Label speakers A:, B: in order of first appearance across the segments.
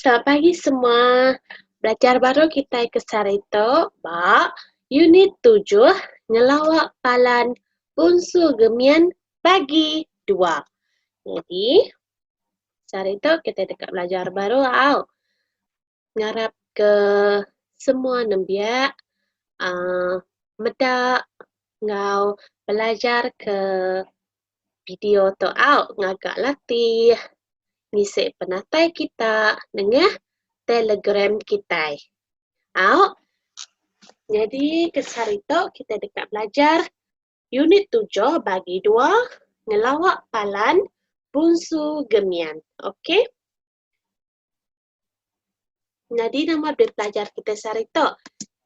A: Selamat pagi semua. Belajar baru kitai ke sehari tu ba unit tujuh ngelawa palan punsu gemin bagi dua. Jadi sehari tu kitai deka belajar baru au. ngarapka semua nembiak aaa meda enggau belajarka video tu au ngaga latih ngisi penatai kita nengah telegram kitai. Au nyadi ke sehari tu kitai deka belajar unit tujuh bagi dua ngelawa palan Punsu Gemian. Okey. Nyadi nama deh pelajar kita sehari tu?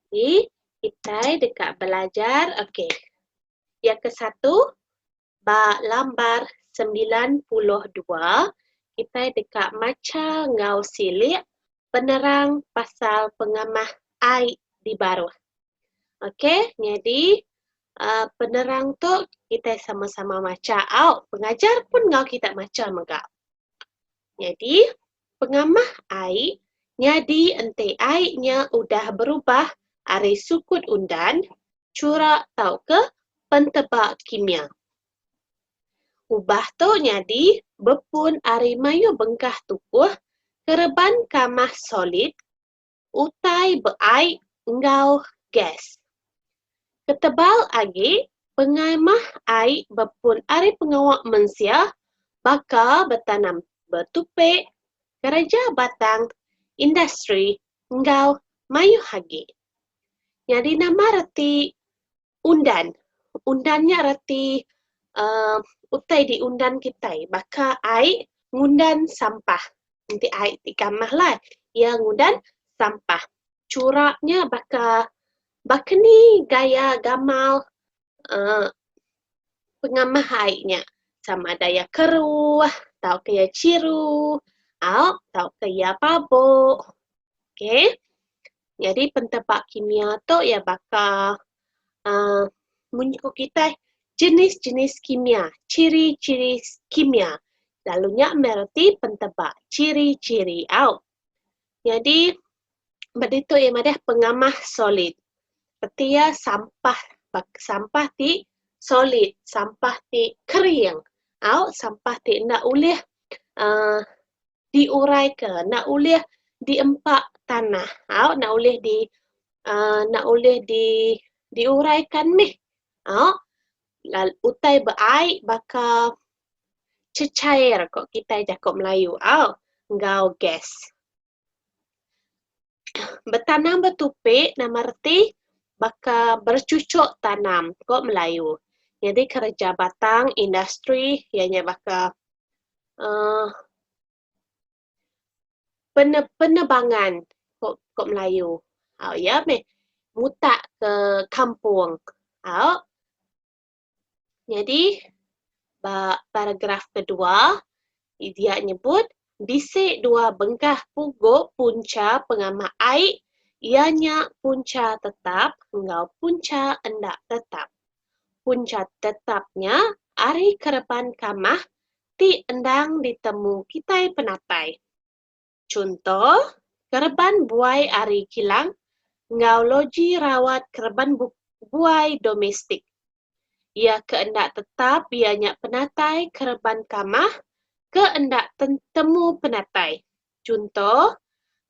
A: Jadi, kita dekat belajar, okey. Yang ke satu, ba lambar sembilan puluh dua, kita dekat macha ngau silik penerang pasal pengamah ai di baruh. Okey, nyadi uh, penerang tu kita sama-sama macha au. Pengajar pun ngau kita macha mega. Jadi, Pengamah ai nyadi enti ai nya udah berubah ari sukut undan, churak tauka penteba kimia. Ubah tu nyadi bepun ari mayuh bengkah tukuh kereban kamah solid utai beai enggau gas. Ketebal agi, pengai mah ai bepun ari pengawa mensia baka betanam betupi, kereja batang, industri enggau mayuh agi. Nyadi nama reti Undan. Undan nya reti uhh utai diundan kitai baka ai ngundan sampah. Enti ai ti kamah lah iya ngundan sampah. Chura nya baka baka ni gaya gamal uhh pengamah ai nya sama ada iya keruh tauka iya chiru au tauka iya pabok. Okey. Nyadi pentepak kimia tu iya baka uhh mun ku kitai jenis-jenis kimia, ciri-ciri kimia. Lalu nya meh reti pentepak ciri-ciri au. Nyadi ba ditu iya madah pengamah solid. Reti iya sampah bak sampah ti solid, sampah ti kering au sampah ti enda ulih uhh diuraika enda ulih diempa tanah au enda ulih di aaa enda ulih di diuraikan mih au lalu utai ba ai baka cecair ko kitai jako melayu au enggau gas. Betanam betupi nama reti baka berechuchuk tanam ko melayu nyadi kereja batang industri iya nya baka uhh pene penebangan ko ko melayu au iya meh mutak ke kampung au. Nyadi ba paragraf kedua dia nyebut bisi dua bengkah pugu punca pengamak ai iya nya punca tetap enggau punca enda tetap. Punca tetap nya ari kereban kamah ti endang ditemu kitai penatai. Chunto, kereban buai ari kilang enggau loji rawat kereban buai domestik. Iya ke enda tetap iya nya penatai kereban kamah ke enda temu penatai. Chunto,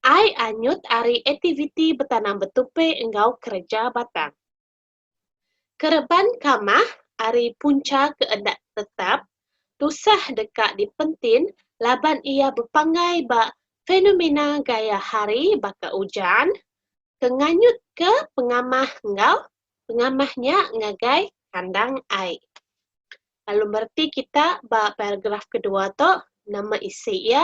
A: ai anyut ari aktiviti betanam betupi enggau kereja batang. Kereban kamah ari punca ke enda tetap tusah deka dipentin laban iya bepanggai ba fenomena gaya hari baka ujan ke nganyutka pengamah enggau pengamah nya ngagai kandang ai. Lalu mereti kita ba paragraf kedua tu nama isi iya.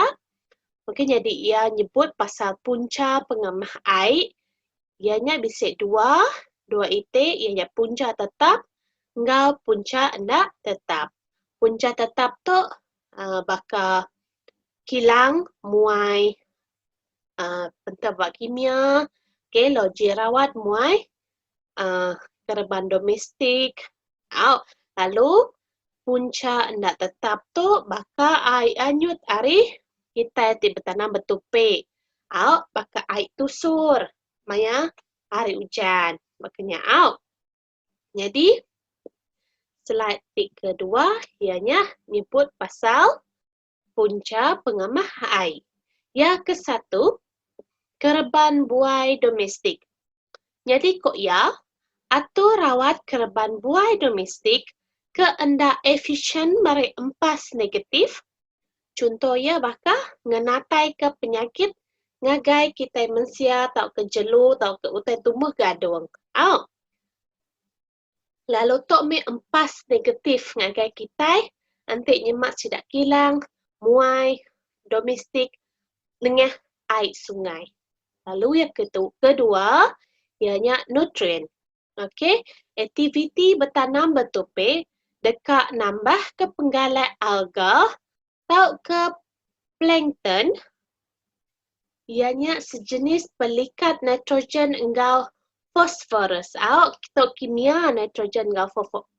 A: Okey nyadi iya nyebut pasal puncha pengamah ai. Iya nya bisi dua, dua iti iya nya puncha tetap enggau puncha enda tetap. Puncha tetap tu uhh baka kilang muai uhh pentera ba kimia, okey logik rawat muai kereban domestik au lalu punca enda tetap tu baka ai anyut ari kitai ti betanam betupi au baka ai tusur maya hari ujan bak kinya au. Nyadi slide ti kedua iya nyah nyebut pasal. punca pengamah ai iya ke satu kereban buai domestik. Nyadi ku iya, atur rawat kereban buai domestik ke enda efisyen meri empas negatif, chunto iya baka ngenataika penyakit ngagai kitai mensia tauka jelu tauka utai tumbuh gadung. Au. lalu tu mih empas negatif ngagai kitai enti nyema sida kilang muai domestik nengah ai sungai. Lalu yang ketu kedua iya nya nutrien. Okey, aktiviti betanam betupi deka nambahka penggalak alga Tauka plankton, iya nya sejenis pelikat nitrogen enggau fosforus. Au, tu kimia nitrogen enggau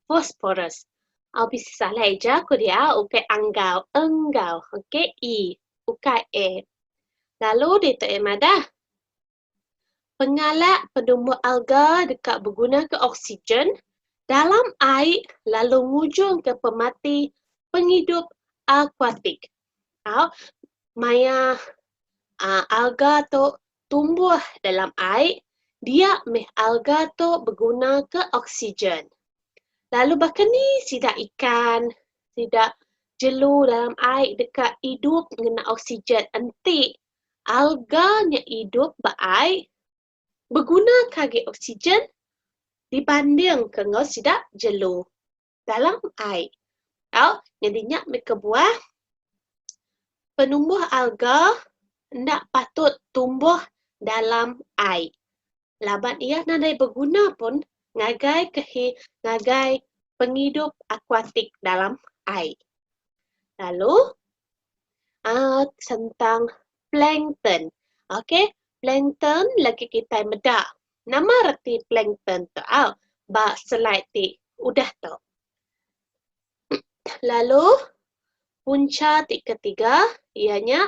A: fosforus. Au bisi salah aja ku dia ukai anggau, enggau. Okey, e ukai a. Lalu ditu eh madah. Pengalak penumbuh alga deka begunaka oksigen dalam ai lalu ngujungka pemati pengidup akuatik tau maya alga tu tumbuh dalam ai dia meh alga tu begunaka oksigen. Lalu baka ni sida ikan, sida jelu dalam ai deka idup ngena oksigen enti Alga nya idup ba ai begunaka agi oksigen dibandingka enggau sida jelu dalam ai tau nyadi nya meh kebuah penumbuh alga enda patut tumbuh dalam ai. laban iya nadai beguna pun ngagai kehi ngagai pengidup akuatik dalam ai. Lalu uh, sentang plankton. Okey, plankton lagi kita meda. Nama reti plankton tu au? Ba slide ti udah tu. Lalu punca ti ketiga ianya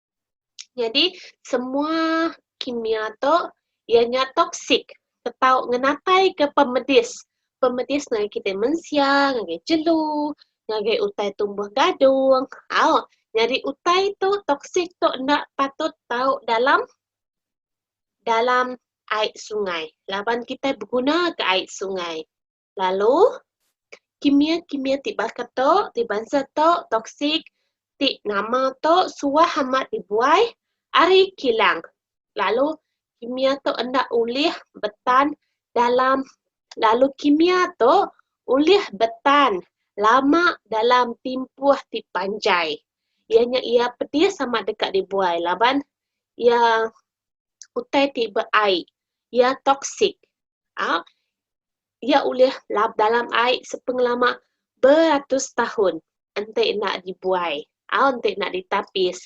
A: Nyadi semua kimia tu iya nya toksik atau ngenatai ke pemedis, pemedis ngagai kitai mensia, ngagai jelu, ngagai utai tumbuh gadung, au nyadi utai tu toksik tu enda patut tau dalam dalam ai sungai laban kitai beguna ka ai sungai. Lalu, kimia-kimia ti baka tu, ti bansa tu toksik, ti nama tu suah amat dibuai ari kilang. Lalu, kimia tu enda ulih betan dalam, lalu kimia tu ulih betan lama dalam timpuh ti panjai. Iya nya iya pedis amat deka dibuai laban iya utai ti beai iya toksik aaa iya ulih lap dalam ai sepengelama beratus taun enti enda dibuai au enti enda ditapis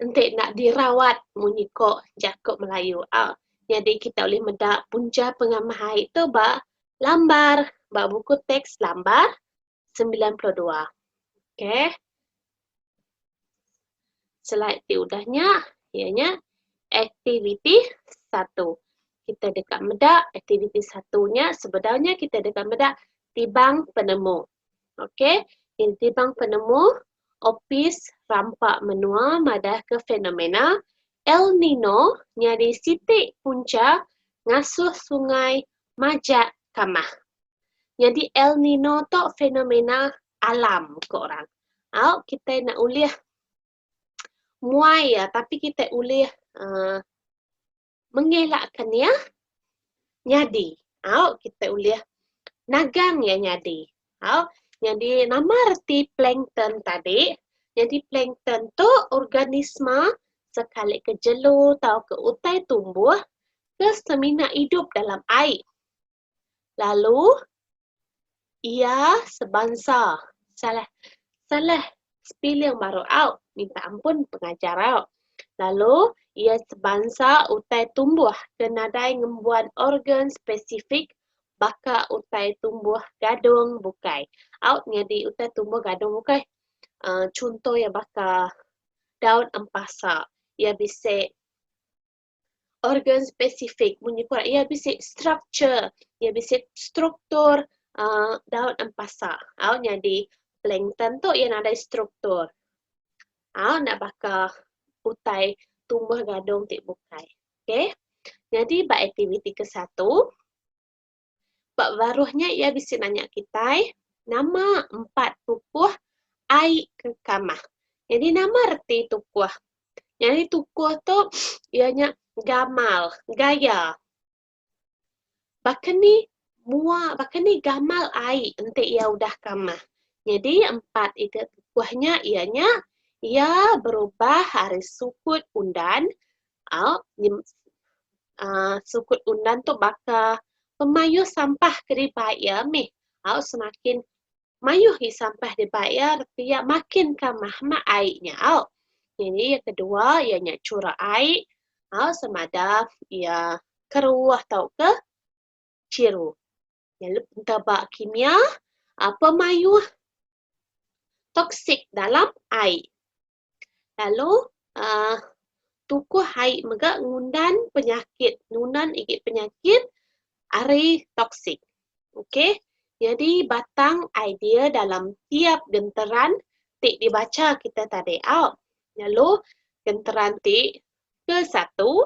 A: enti enda dirawat munyi ko jako melayu a nyadi kita ulih meda punca pengamah ai tu ba lambar ba buku teks lambar sembilan puluh dua. Okey. Slide ti udah nya iya nya aktiviti satu. Kita deka meda aktiviti satu nya sebedau nya kita deka meda tibang penemu. Okey. Ini tibang penemu Opis Rampa Menua madahka fenomena El Nino nyadi siti punca ngasuh sungai majak kamah. Nyadi El Nino tu fenomena alam ko orang. Au kitai enda ulih muai iya tapi kitai ulih uh, mengelakkan iya nyadi. Au kitai ulih nagang iya nyadi. Au nyadi nama reti plankton tadi? Nyadi plankton tu organisma sekali ke jelu tau ke utai tumbuh ke semina idup dalam ai. lalu iya sebansa salah salah spelling baru au minta ampun pengajar au lalu iya sebansa utai tumbuh ke nadai ngembuan organ spesifik baka utai tumbuh gadung bukai au nyadi utai tumbuh gadung bukai uhh chunto iya baka daun empasa iya bisi organ spesifik munyi ku iya bisi structure iya bisi struktur aaa daun empasa au nyadi plankton tu iya nadai struktur au enda baka utai tumbuh gadung ti bukai okay nyadi ba aktiviti ke satu Ba baruh nya iya bisi nanya kitai, nama empat tukuh ai ke kamah. Nyadi nama reti tukuh? Nyadi tukuh tu iya nya gamal, gaya. Baka ni mua baka ni gamal ai enti iya udah kamah. Nyadi empat ite tukuh nya iya nya iya berubah ari sukut undan sukut undan tu baka pemayuh sampah ke diba iya mih au semakin mayuh agi sampah diba iya reti iya makin ka mahma ai nyau. Nyadi iya kedua iya nya chura ai au sama ada iya keruuh tauka chiru. Nyelep enta ba kimia ape mayuh toksik dalam ai. Lalu uhh tukuh ai mega ngundan penyakit ngundan igi penyakit ari toksik. Okey nyadi batang idea dalam tiap genteran ti dibacha kita tadi au. Lalu genteran ti Ke satu,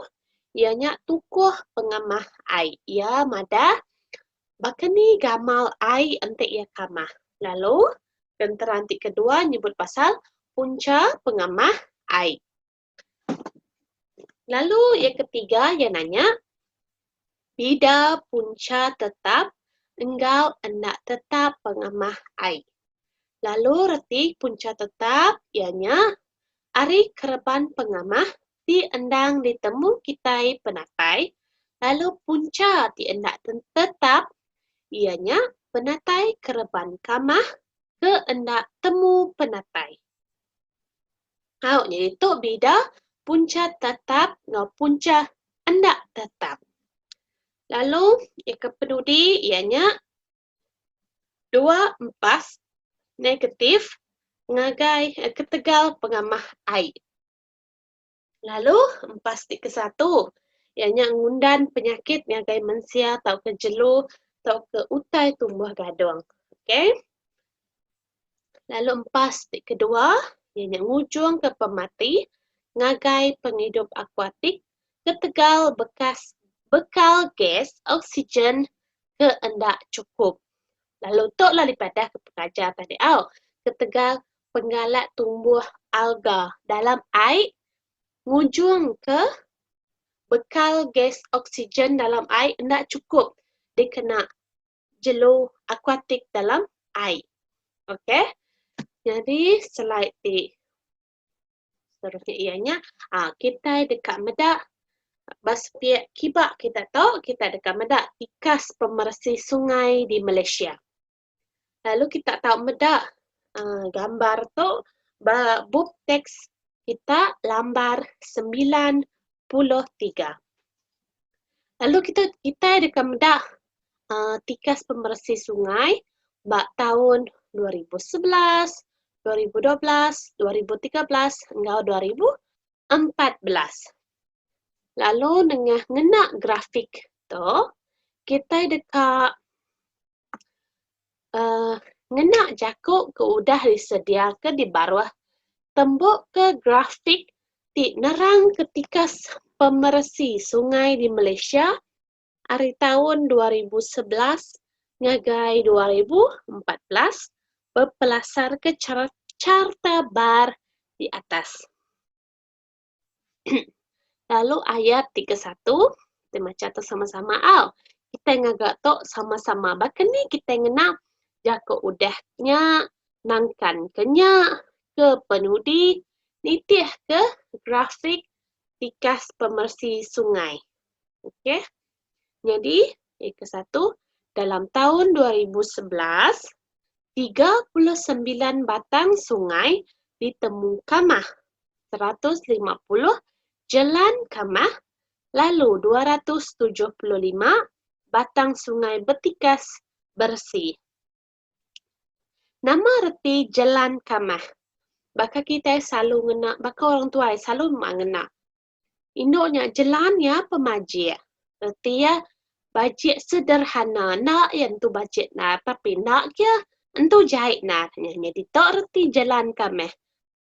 A: iya nya tukuh pengamah ai. Iya madah, baka ni gamal ai enti iya kamah. Lalu, genteran ti kedua nyebut pasal puncha pengamah ai. Lalu iya ketiga iya nanya, Pida punca tetap enggau enda tetap pengamah ai. Lalu reti punca tetap iya nya ari kereban pengamah ti endang ditemu kitai penatai lalu punca ti enda tetap iya nya penatai kereban kamah ke enda temu penatai. Au nya ditu bida punca tatap enggau punca enda tatap. Lalu iya ke penudi iya nya dua empas negatif ngagai ketegal pengamah ai. Lalu empas ti ke satu iya nya ngundan penyakit ngagai mensia tauka jelu tauka utai tumbuh gadung. Okay. Lalu empas ti kedua iya nya ngujungka pemati ngagai pengidup akuatik ketegal bekas bekal gas oksigen ke enda chukup. Lalu tu lah dipadahka pengajar tadi au ketegal penggalak tumbuh alga dalam ai ngujungka bekal gas oksigen dalam ai enda chukup dikena jelu akuatik dalam ai. Okey. Nyadi slide ti seterusnya iya nya ah kitai deka meda ba sepiak kiba kita tu kita deka meda tikas pemeresi sungai di Malaysia. Lalu kita tau meda ah, gambar tu ba bup teks kita lambar 93. Lalu kita kitai deka meda aaa tikas pemeresi sungai ba taun dua ribu sebelas, dua ribu dua belas, dua ribu tiga belas enggau dua ribu empat belas. Lalu nengah ngena grafik tu kitai deka Um Ngena jaku ke udah disediaka di baruh, tembuka grafik ti nerangka tikas pemeresi sungai di Malaysia ari taun dua ribu sebelas ngagai dua ribu empat belas bepelasarka chart charta bar di atas. Lalu ayat ti ke satu, kita macha tu sama-sama au. Kita ngaga tu sama-sama. Baka ni kita ngena jaku udah nya, nangkan ke nya, ke penudi, nitih ke grafik tikas pemeresi sungai. Okey. Nyadi, iya ke satu, dalam taun dua ribu sebelas, tiga puluh sembilan batang sungai ditemu kamah, seratus lima puluh jelan kamah lalu dua ratus tujuh puluh lima batang sungai betikas beresi. Nama reti jelan kamah? Baka kitai selalu ngena, baka orang tuai selalu ngena Indu nya jelan iya pemajik reti iya bajik sederhana enda iya entu bajik nar tapi enda kia entu jai nar nyadi tu reti jelan ka meh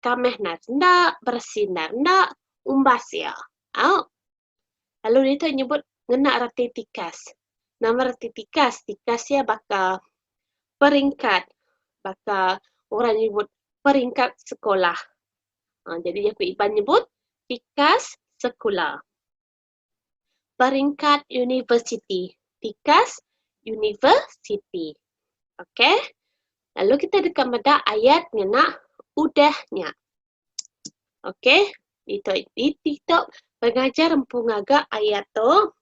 A: ka meh nar senda beresi nar enda umbas iya au lalu ditu nyebut ngena reti tikas. Nama reti tikas? Tikas iya baka peringkat baka orang nyebut peringkat sekolah Jadi iya ku Iban nyebut tikas sekula. Peringkat universiti. Tikas universiti. Okey. Lalu kita deka meda ayat ngena udah nya. Okey. Ditok ditok pengajar empu ngaga ayat tu.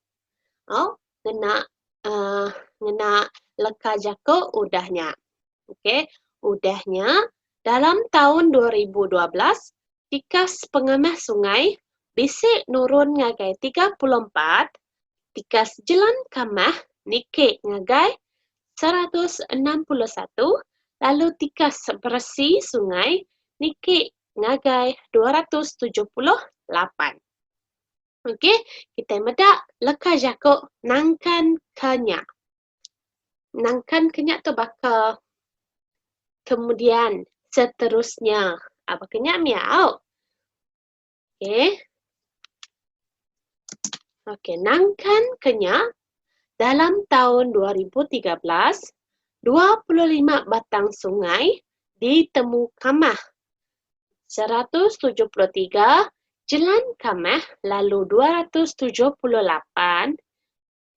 A: Oh, kena uhh ngena leka jaku udah nya. Ok udah nya dalam taun dua ribu dua belas tikas pengamah sungai bisi nurun ngagai tiga puluh empat, tikas jelan kamah niki ngagai seratus enam puluh satu lalu tikas beresi sungai niki ngagai dua ratus tujuh puluh lapan. Okey, kita meda leka jaku nangkan ke nya. Nangkan ke nya tu baka kemudian, seterusnya. Ah, baka nya mih au. Okey. Okey, nangkan ke nya dalam tahun 2013, 25 batang sungai ditemu kamah seratus tujuh puluh tiga Jelan Kamah lalu dua ratus tujuh puluh lapan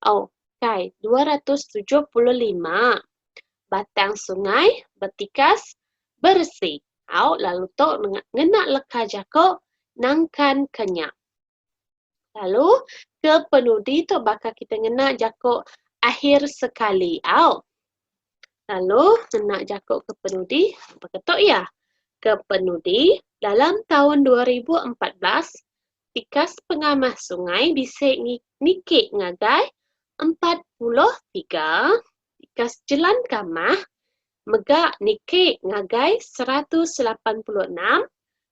A: oh kai dua ratus tujuh puluh lima Batang sungai betikas beresi au lalu tu ngena leka jaku nangkan ke nya. Lalu ke penudi tu baka kita ngena jaku akhir sekali au. Lalu ngena jaku ke penudi baka tu iya. Ke penudi dalam taun 2014 tikas pengamah sungai bisi niki ngagai 43 Tikas jelan kamah mega niki ngagai seratus lapan puluh enam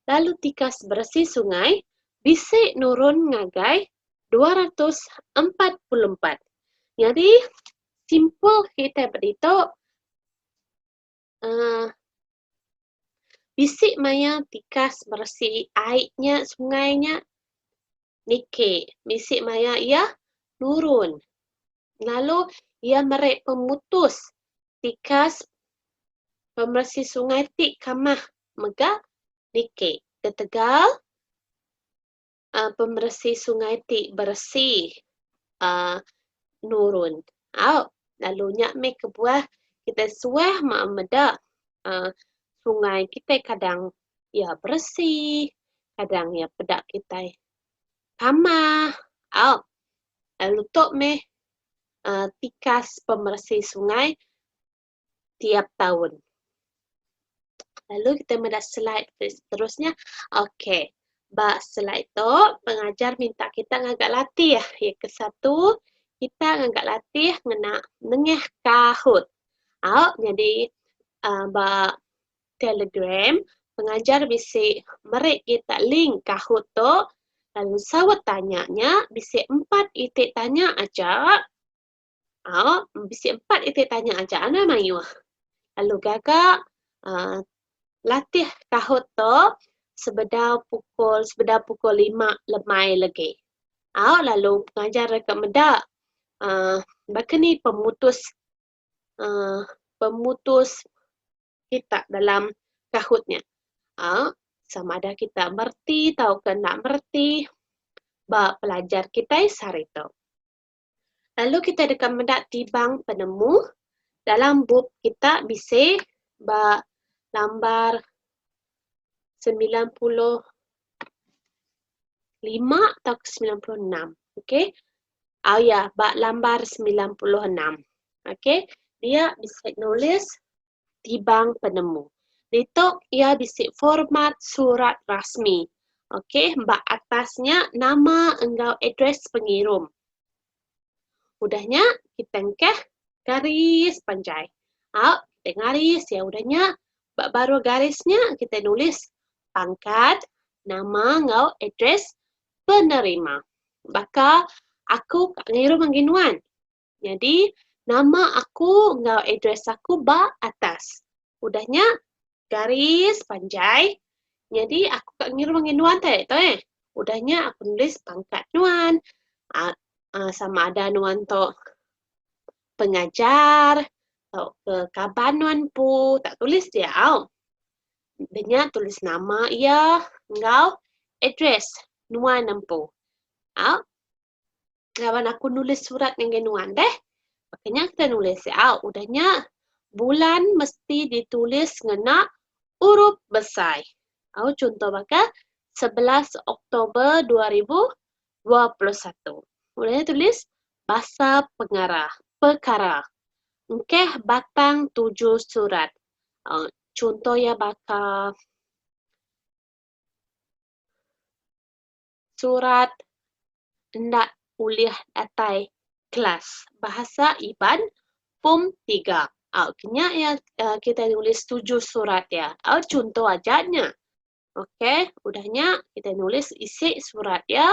A: lalu tikas beresi sungai bisi nurun ngagai dua ratus empat puluh empat. Nyadi simple kitai ba ditu. uhh bisi maya tikas beresi ai nya sungai nya niki bisi maya iya nurun lalu iya meri pemutus tikas pemberesi sungai ti kamah mega niki ketegal pemeresi sungai ti beresi nurun au lalu nya meh kebuah kitai suah maa meda sungai kitai kadang iya beresi kadang iya peda kitai tama au lalu tu meh tikas pemeresi sungai. tiap taun. Lalu kita meda slide ke seterusnya. Okey. Ba slide tu pengajar minta kita ngaga latih. Ya ke satu kita ngaga latih ngena nengah Kahoot. Au nyadi uh, ba Telegram pengajar bisi meri kita link Kahoot tu lalu saut tanya nya bisi empat iti tanya aja Au, bisi empat iti tanya aja anang mayuh. Lalu gaga uh, latih kahut tu sebedau pukul sebedau pukul lima lemai lagi. Au, lalu pengajar reka meda uh, baka ni pemutus uh, pemutus kita dalam kahut nya. Uh, sama ada kita merti tauka enda merti ba pelajar kita sehari tu. Lalu kita deka meda tibang penemu dalam bup kita bisi ba lambar semilan puluh lima atau ke semilan puluh enam. Okey. Oh ya, ba lambar semilan puluh enam. Okey. Dia bisi nulis tibang penemu. Ditu iya bisi format surat rasmi. Okey, ba atas nya nama enggau address pengirum. Udah nya kita engkah garis panjai. Au, kita garis iya udah nya ba baruh garis nya kita nulis pangkat, nama enggau address penerima. Baka aku ka ngirum agi nuan. Nyadi nama aku enggau address aku ba atas. Udah nya garis panjai nyadi aku ka ngiruh ngagai nuan tai agi tu eh. Udah nya aku nulis pangkat nuan aaa sama ada nuan tu pengajar tauka kaban nuan empu tak tulis dia au. Udah nya tulis nama iya enggau address nuan empu. Au. laban aku nulis surat ngagai nuan deh. Baka nya kita nulis iya au. Udah nya bulan mesti ditulis ngena urup besai. Au chunto baka 11 Oktober 2021. Udah nya tulis basa pengara, pekara. Engkeh batang tuju surat. Uh, chunto iya baka Surat enda ulih datai kelas Bahasa Iban Form Tiga. Au ke nya iya kitai nulis setuju surat iya. Au chunto aja nya. Okey, udah nya kitai nulis isi surat iya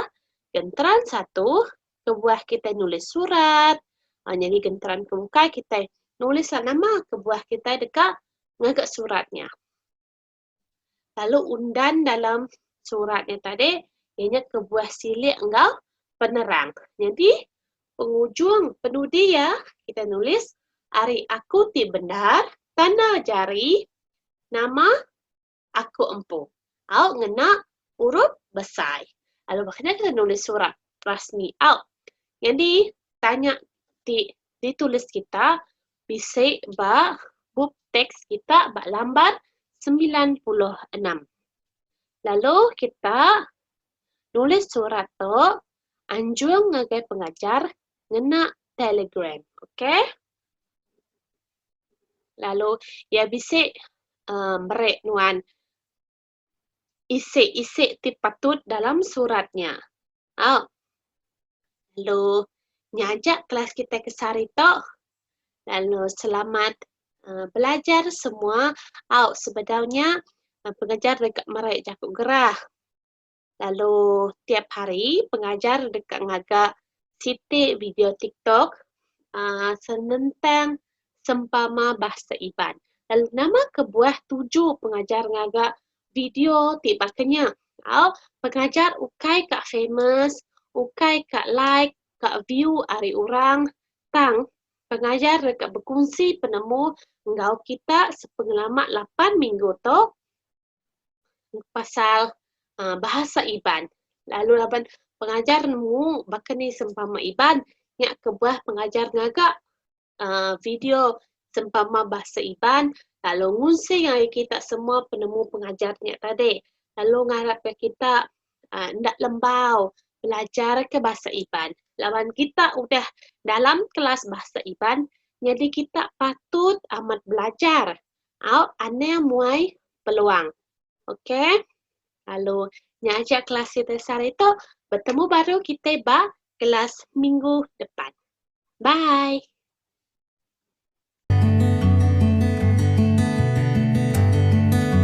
A: genteran satu kebuah kitai nulis surat aaa nyadi genteran ke bukai kitai nulislah nama kebuah kitai deka ngaga surat nya. lalu undan dalam surat nya tadi iya nya kebuah silik enggau penerang. Nyadi pengujung penudi iya kita nulis ari aku ti bendar tanda jari nama aku empu au ngena urup besai. Lalu baka nya kita nulis surat rasmi au. Nyadi tanya ti ditulis kita bisi ba bup teks kita ba lambar semilan puluh enam. Lalu kita nulis surat tu anjung ngagai pengajar ngena telegram. Okey. Lalu iya bisi uhh meri nuan isik-isik ti patut dalam surat nya. Au. Lalu nyaja kelas kitai ke sehari tu. Lalu selamat uh, belajar semua. Au sebedau nya uh, pengajar deka merai jaku gerah. Lalu tiap hari pengajar deka ngaga siti video tiktok aaa senentang sempama Bahasa Iban. Lalu nama kebuah tuju pengajar ngaga video ti baka nya? Au, pengajar ukai ka famous, ukai ka like, ka view ari orang tang pengajar deka bekunsi penemu enggau kita sepengelama lapan minggu tu. pasal bahasa Iban lalu laban pengajar nemu baka ni sempama Iban nya kebuah pengajar ngaga aaa video sempama bahasa Iban lalu ngusung ngagai kita semua penemu pengajar nya tadi lalu ngarap ka kita enda lembau belajar ka bahasa Iban laban kita udah dalam kelas bahasa Iban nyadi kita patut amat belajar Au anang muai peluang. Ok. Lalu nya aja kelas kitai sehari tu. Betemu baru kitai ba kelas minggu depan. Bye.